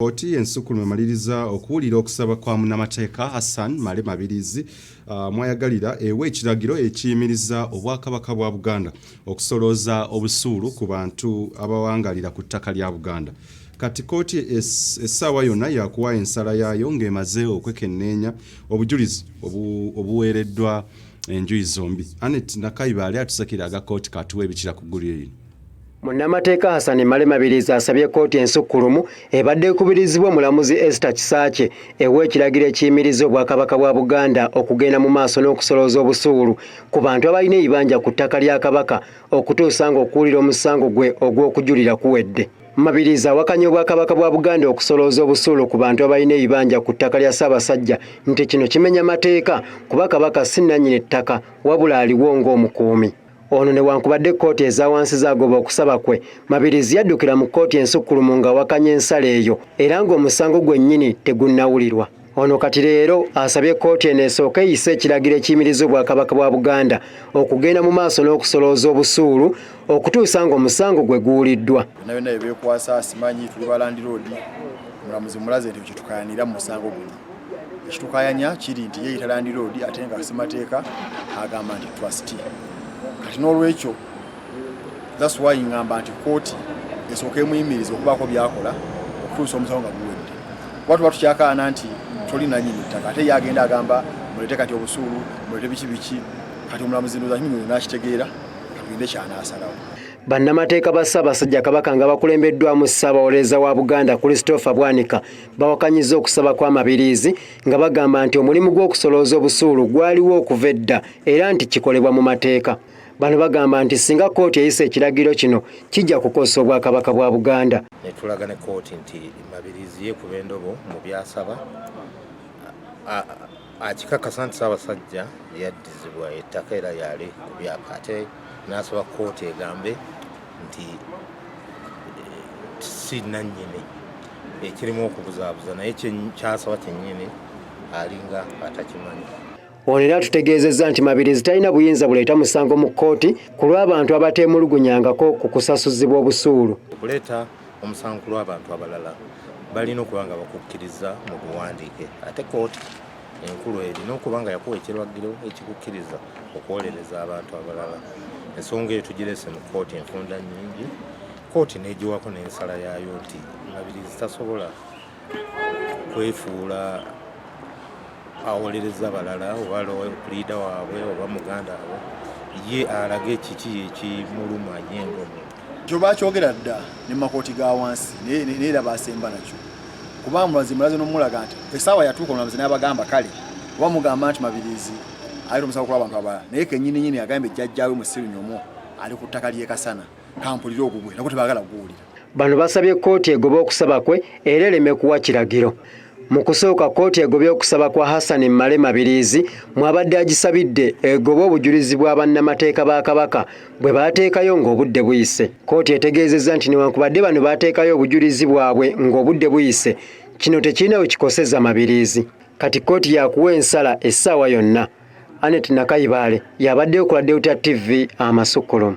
Kkooti ensukkulumu emaliriza okuwulira okusaba kwa munnamateeka Hassan Male Mabiriizi uh, mwayagalira ewa ekiragiro ekiyimiriza obwakabaka bwa Buganda okusolooza obusuulu ku bantu abawangalira ku ttaka lya Buganda. Kati kkooti essaawa yonna yakuwa ensala yaayo ng'emaze okwekenneenya obujulizi obuweereddwa enjuyi zombi. Anet Nakayibaali atusakira aga kkooti katuwa ebikira ku ggulire lino. Munnamateeka Hassan Male Mabirizi asabye kkooti ensukkulumu ebadde ekubirizibwa omulamuzi Esther Kisaakye ewa ekiragiro ekiyimiriza Obwakabaka bwa Buganda okugenda mu maaso n'okusolooza obusuulu ku bantu abalina ebibanja ku ttaka lya Kabaka okutuusa ng'okuwulira omusango gwe ogw'okujulira kuwedde. Mabirizi awakanya Obwakabaka bwa Buganda okusolooza obusuulu ku bantu abalina ebibanja ku ttaka lya Ssaabasajja nti kino kimenya mateeka kuba Kabaka si nnannyini ttaka wabula aliwo ng'omukuumi. Ono newankubadde kkooti eza wansi zaagoba okusaba kwe, Mabiriizi yaddukira mu kkooti ensukkulumu ng'awakanya ensala eyo era ng'omusango gwennyini tegunnawulirwa. Ono kati leero asabye kkooti eno esooke eyise ekiragiro ekiyimiriza Obwakabaka bwa Buganda okugenda mu maaso n'okusolooza obusuulu okutuusa ng'omusango gwe guwuliddwa. Byonna byonna bye beekwasa simanyi, tuli ba landiroodi, omulamuzi mulaze nti kye tukayanira mu musango guno. ekitukayanya kiri nti yeeyita landiroodi ate nga semateeka agamba nti trustee kati n'olwekyo thats why ngamba nti kooti esooka emuyimiriza okubaako byakola okutuusa omusawo nga guwedde kuba tuba tukyakaana nti toli nanyini ttaka ate ye agenda agamba mulete kati obusuulu mulete biki biki kati omulamuzi ndoza kimu nakitegeera katugende kyanaasalawo Bannamateeka ba Ssaabasajja Kabaka nga bakulembeddwamu Ssaabawolereza wa Buganda Christopher Bwanika bawakanyizza okusaba kwa Mabiriizi nga bagamba nti omulimu gw'okusolooza obusuulu gwaliwo okuva edda era nti kikolebwa mu mateeka. Bano bagamba nti singa kkooti eyisa ekiragiro kino kijja kukozesa Obwakabaka bwa Buganda. Ne tulaga ne kkooti nti Mabiriizi yeekuba endobo mu by'asaba akikakasa nti Ssaabasajja yaddizibwa ettaka era yali ku byapa ate n'asaba kkooti egambe nti eh, si nannyini ekirimu okubuzaabuza naye kyasaba kyennyini alinga atakimanyi ono era tutegeezezza nti mabirizi talina buyinza buleeta musango mu kkooti ku lw'abantu abateemulugunyangako ku kusasuzibwa obusuulu okuleeta omusango ku lw'abantu abalala balina okuba nga bakukkiriza mu buwandiike ate kooti enkulu erina okuba nga yakuwa ekiragiro ekikukkiriza okuwolereza abantu abalala ensonga eyo tugirese mu kooti enfunda nnyingi kooti n'egiwako n'ensala yaayo nti mabirizi tasobola kwefuula awolereza balala oba puliida waabwe oba muganda we ye alage kiki ekimuluma ye ngomu kyo bakyogera dda ne makooti ga wansi naye era basemba nakyo kuba mulazi mulazi nomulaga nti esaawa yatuuka omulamuzi n'abagamba kale oba mugamba nti mabirizi ali omusawo kuba abantu abalala naye kenyini nyini agambye jjajjaawe musiru nyomo ali ku ttaka ly'ekasana kampulire ogugwe nako tebagala kuwulira bano basabye kkooti egobe okusaba kwe era ereme kuwa kiragiro mu kusooka kkooti egobye okusaba kwa hassan male mabiriizi mwabadde agisabidde egobe obujulizi bwa bannamateeka ba kabaka bwe baateekayo ng'obudde buyise kkooti etegeezezza nti newankubadde bano baateekayo obujulizi bwabwe ng'obudde buyise kino tekirina we kikoseza mabiriizi kati kkooti yakuwa ensala essaawa yonna anet nakayibaale yabaddeyo ku ladewuta tv amasukkulumu